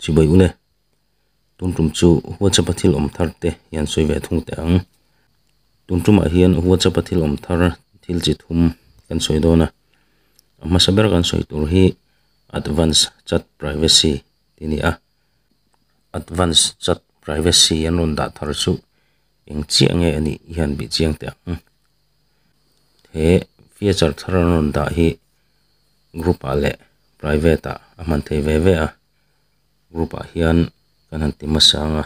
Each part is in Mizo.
chibawih ule tumtum chu whatsapp a thil awm thar te hian sawi ve thung teh ang tumtuma hian whatsapp a thil awm thar thil chi thum kan sawi dawn a a hmasa ber kan sawi tur hi advance chat privacy ti ni a advance chat privacy an rawn dah thar chu eng chiah nge anih hian beh chiang teh ang. he feature thar an rawn dah hi group ah leh private ah a hman thei ve ve a group ah hian kan han ti hmasa ang a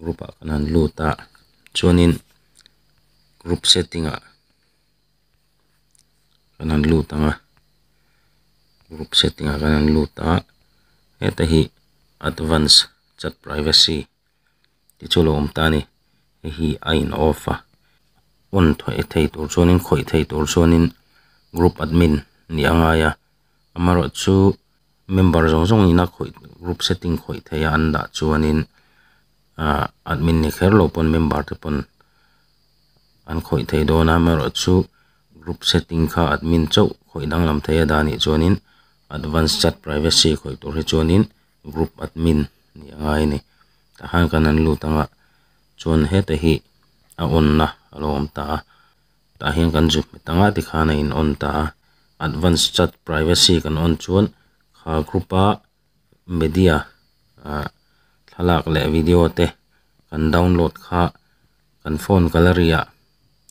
group ah kan han lut a chuanin group setting ah kan han lut ang a group setting ah kan han lut a heta hi advance chat privacy . tichuan awm ta a ni hei hi a in off a on thawih thei tur chuanin khawih thei tur chuanin group admin nih a ngai a amarawhchu chu member zawng zawng ina khawih group setting khawih theia an dah chuanin ah admin ni kher lo pawn member te pawn an khawih thei dawn a amarawhchu group setting kha admin chauh khawih danglam theia dan nih chuanin advance chat privacy khawih tur hi chuanin-- group admin ni a ngai a ni tah khan kan han lut ang a chuan heta hi a on na a lo awm ta a tah hian kan zuk hmet ang a ti khan a in on ta a advance chat privacy kan on chuan kha group a media ah thlalak leh video te kan download kha kan phone gallery ah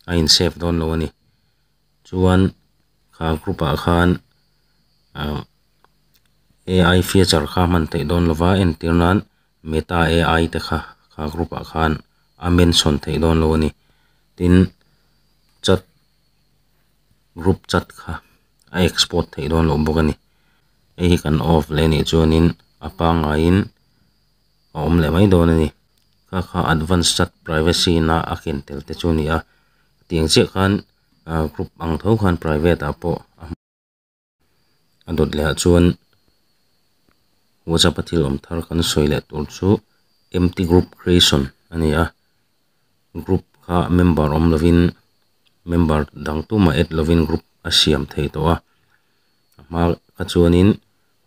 a in save dawn lo a ni. Chuan kha group ah khan ah ai feature kha hman theih dawn lo va entir nan meta ai te kha kha group ah khan a mention theih dawn lo a ni tin chat group chat kha a export theih dawn loh bawk a ni hei hi kan off leh a nih chuan in a pangngai in-- a awm leh mai dawn a ni. Kha kha advance chat privacy ina a ken tel te chu a ni a, tiang chiah khan group ang tho khan private ah pawh a dawt leh ah chuan WhatsApp a thil awm thar kan sawi leh tur chu empty group creation a ni a, group kha member awm lovin member dang tuma add lovin group a siam thei tawh a, a hma kha chuanin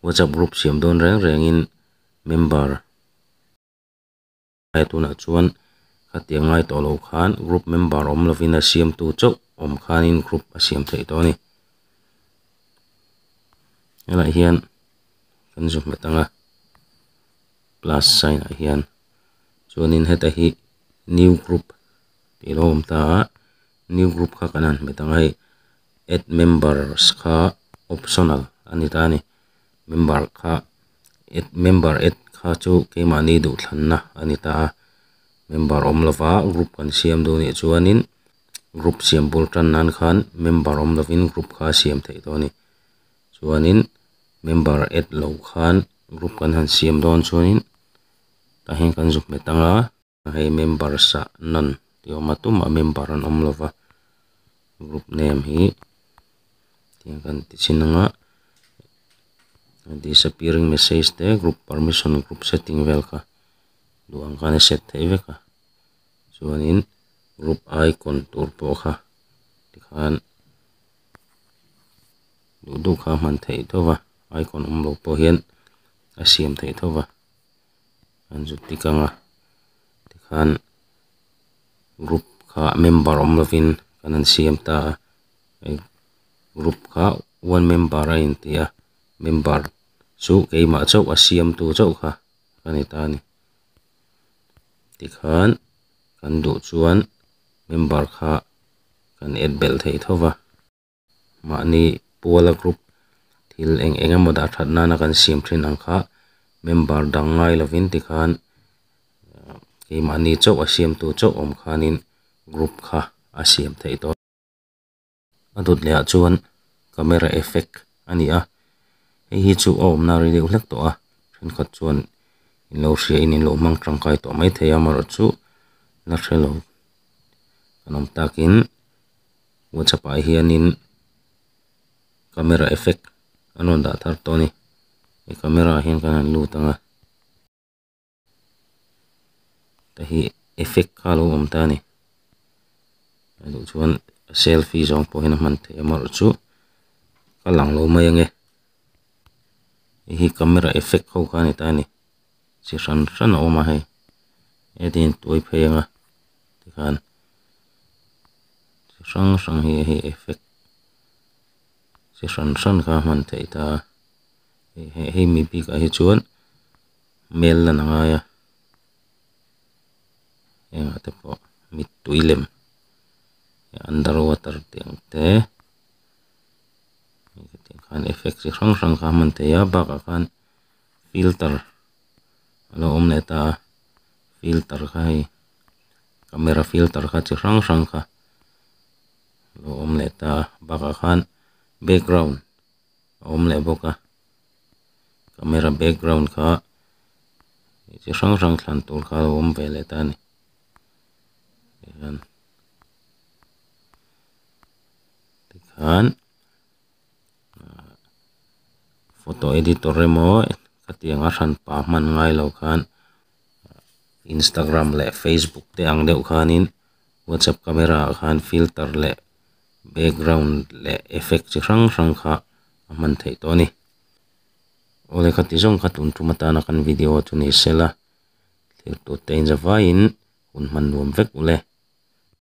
WhatsApp group siam dawn reng reng in. member he tunah chuan hetiang ngai tawh lo khan group member awm lovin a siamtu chauh awm khanin group a siam theih dawn a ni helaiah hian kan zun hmet anga plus sign ah hian chuanin heta hi new group tih lo awm ta a new group kha kan han hmet ang a hei add members kha optional a ni ta a ni. member kha member add kha chu keimahni duhthlanna a ni ta a member awm lova group kan siam duh nih chuanin group siam bul tan nan khan member awm lovin group kha a siam theih dawn a ni chuanin member add loh khan group kan han siam dawn chuanin tah hian kan zuk hmet ang a. hei members ah nan ni awm a tum a member an awm lo va group name hi tiang kan ti chin ang a disappearing message te group permission group setting vel kha duh ang khan a set theih vek a chuanin group icon tur pawh kha tikhan duh duh kha a hman theih tawh va icon awm lo pawh hian a siam theih tho va. an zut dik ang a tikhan group kha member awm lovin kan han siam ta a hei group kha one member a inti a member chu keimah chauh a siamtu chauh kha a ni ta a ni tikhan kan duh chuan member kha kan add belh thei tho va. mahni Puala group thil eng eng emaw dah that nana kan siam thin ang kha member dang ngai lovin ti khan keimahni chauh a siamtu chauh awm khanin group kha a siam theih tawh a dawt leh ah chuan camera effect a ni a hei hi chu a awmna a ri deuh hlek tawh a thenkhat chuan in lo hria in in lo hmang tangkai tawh mai thei a amarawhchu la hrelo kan awm takin. whatsapp ah hianin camera effect an rawn dah thar tawh a ni he camera ah hian kan rawn lut ang a heta hi effect kha lo awm ta a ni a nih chuan selfie zawng pawhin a hman theih ang erawh chu a lang lo mai ang e hei hi camera effect ho kha a ni ta a ni. chi hran hran a awm a hei heti hian tuai phei anga tikhan chi hrang hrang hi hei effect chi hran hran kha a hman theih ta a hei hei mi bikah hi chuan hmel lan a ngai a hengah te pawh mittui lem hei underwater tih ang te effect chi hrang hrang kha a hman thei a bakah khan-- filter a lo awm leh ta a filter kha hei camera filter kha chi hrang hrang kha a lo awm leh ta a bakah khan background a awm leh bawk a camera background kha chi hrang hrang thlan tur kha a lo awm ve leh ta a ni tikhan. photo editor emaw hetianga hran pa hman ngai lo khan Instagram leh Facebook te ang deuh khanin whatsapp camera ah khan filter leh background leh effect chi hrang hrang kha a hman theih tawh a ni aw lehkha ti zawng kha tun tum atana kan video chu ni sela thil tute inzavaiin hun hman nuam vek uleh.